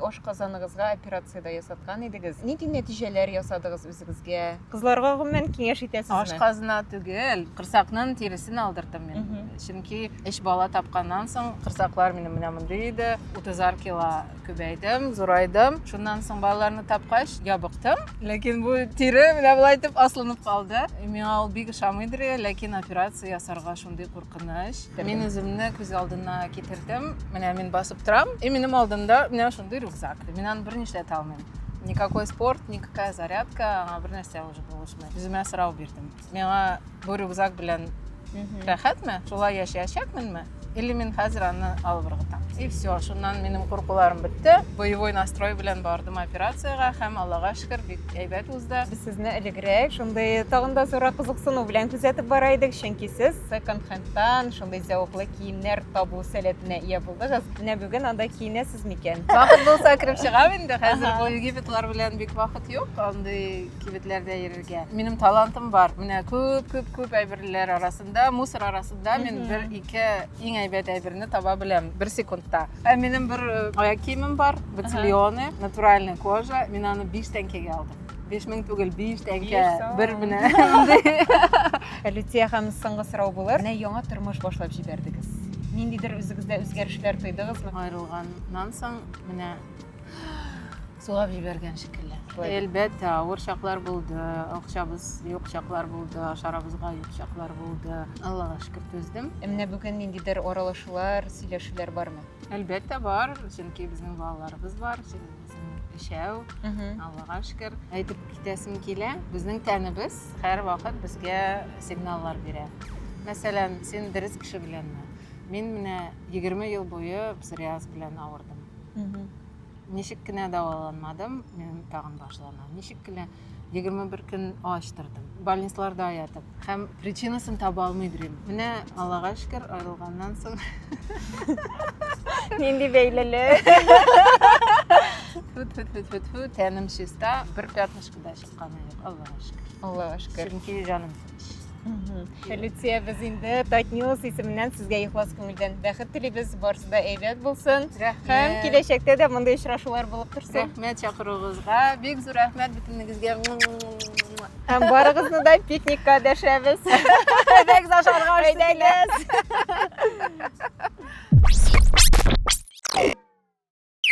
Ашказаныгызга операция дә ясаткан идегез. Нинди нәтиҗәләр ясадыгыз үзегезгә? Кызларга гомумән киңәш итәсезме? Ашказына түгел, корсакның тиресен алдырдым мин. Чөнки өч бала тапканнан соң корсаклар минем менә мондый иде. Утызар кило күбәйдем, зурайдым. Шуннан соң балаларны тапкач, ябыктым. Ләкин бу тире менә болай итеп аслынып калды. Миңа ул бик ошамыйдыр, ләкин операция ясарга шундый куркыныч. Мин үземне күз алдына китердем. Менә мин басып торам, и минем алдымда менә шундый рюкзак. Мин аны берни эшләтә алмыйм. Никакой спорт, никакая зарядка, аңа бер нәрсә уже булышмый. Үземә сорау бирдем. Миңа бу рюкзак белән рәхәтме? Шулай яшәячәкменме? Или мин хәзер аны алып ыргытам. И все, шуннан минем куркуларым бетте. Боевой настрой белән бардым операциягә һәм Аллага шөкер, бик Әйбәт узды. Без сезне элегрәк шундый тагын да зуррак кызыксыну белән күзәтеп бара идек, чөнки сез секонд-хендтан шундый зәвыклы киемнәр табу сәләтенә ия булдыгыз. Менә бүген анда киенәсез микән? Вакыт булса кереп чыгам инде. Хәзер бу егитлар белән бик вакыт юк андый кибетләрдә йөрергә. Минем талантым бар. Менә күп-күп-күп әйберләр арасында, мусор арасында мин бер-ике Иң әйбәт әйберне таба беләм бер секундта. Ә минем бер э, аяк киемем бар, бутильоны, натуральная кожа. Мин аны 5 тәңкәгә алдым. 5000 түгел, 5 тәңкә бер менә. Лютия ханым соңгы сорау булыр. Менә яңа тормыш башлап җибәрдегез. Ниндидер үзегездә үзгәрешләр тойдыгызмы? Аерылганнан соң менә Сулап җибәргән шикелле. Әлбәттә, авыр чаклар булды, акчабыз юк чаклар булды, ашарыбызга юк чаклар булды. Аллага шөкер түздем. Ә менә бүген ниндидер аралашулар, сөйләшүләр бармы? Әлбәттә бар, чөнки безнең балаларыбыз бар, үзем өчәү. Аллага шөкер. Әйтеп китәсем килә, безнең тәнебез һәрвакыт безгә сигналлар бирә. Мәсәлән, син дөрес кеше беләнме? Мин менә 20 ел буе псориаз белән авырдым. Ничек кенә дәваланмадым, минем тагын башлана. Ничек кенә 21 көн ач тордым. Больницаларда ятып. Һәм причинасын таба алмый йөрим. Менә Аллага шөкер, аерылганнан соң. Нинди бәйлелек. Фу-фу-фу-фу, тәнем чиста, бер пятнышкада чиста. кысканы юк, Аллага шөкер. Аллага шөкер. Чөнки җаным тыныч. Люция, без инде Татньюс исеменнән сезгә ихлас күңелдән бәхет телибез, барысы да әйбәт булсын. Һәм киләчәктә дә мондый очрашулар булып торсын. Рәхмәт чакыруыгызга, бик зур рәхмәт бөтенегезгә. Һәм барыгызны да пикникка дәшәбез. Әйдәгез ашарга Әйдәгез.